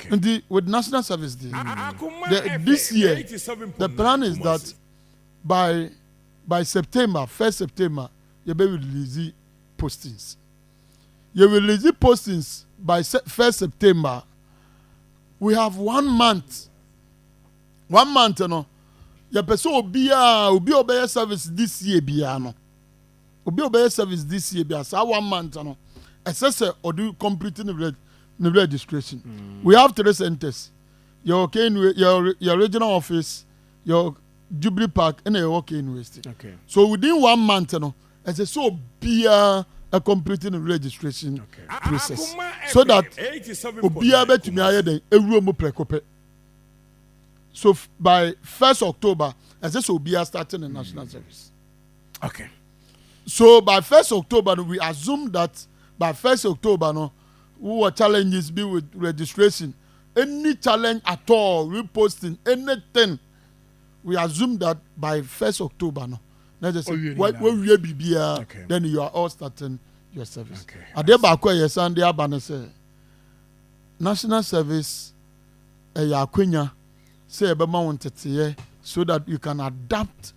Nti with national service deɛ, the this year the plan is that by by September first September yɛbɛ release postings. Yɛ release postings by first September. We have one month. One month no yɛpɛ sɛ obiara obi a ɔbɛyɛ service this year biara no. Obi a ɔbɛyɛ service this year bia saa one month no ɛsɛ sɛ ɔde complete ne reg ne registration. Mm. We have three centers. Yɛwɔ Kenway, yɛwɔ yɛ regional office, yɛwɔ Jubilee Park, ɛna yɛwɔ Kenway State. Okay. So within one month no ɛsɛ sɛ obiara a complete ne registration okay. process so that obiara bɛtumi ayɛ dɛn ewura mu prɛko pɛ. So by first October ɛsɛ sɛ obiara start ne national mm. service. Okay. So by first October no we assume that by first October no wowɔ challenges bi with registration any challenge at all reposting anything we assume that by first October no na just wowie biribiara okay. then you are all starting your service okay. adeɛ baako a ɛyɛ san de aba no sɛ national service ɛyɛ akwanya sɛ ɛbɛma wo nteteɛ so that you can adapt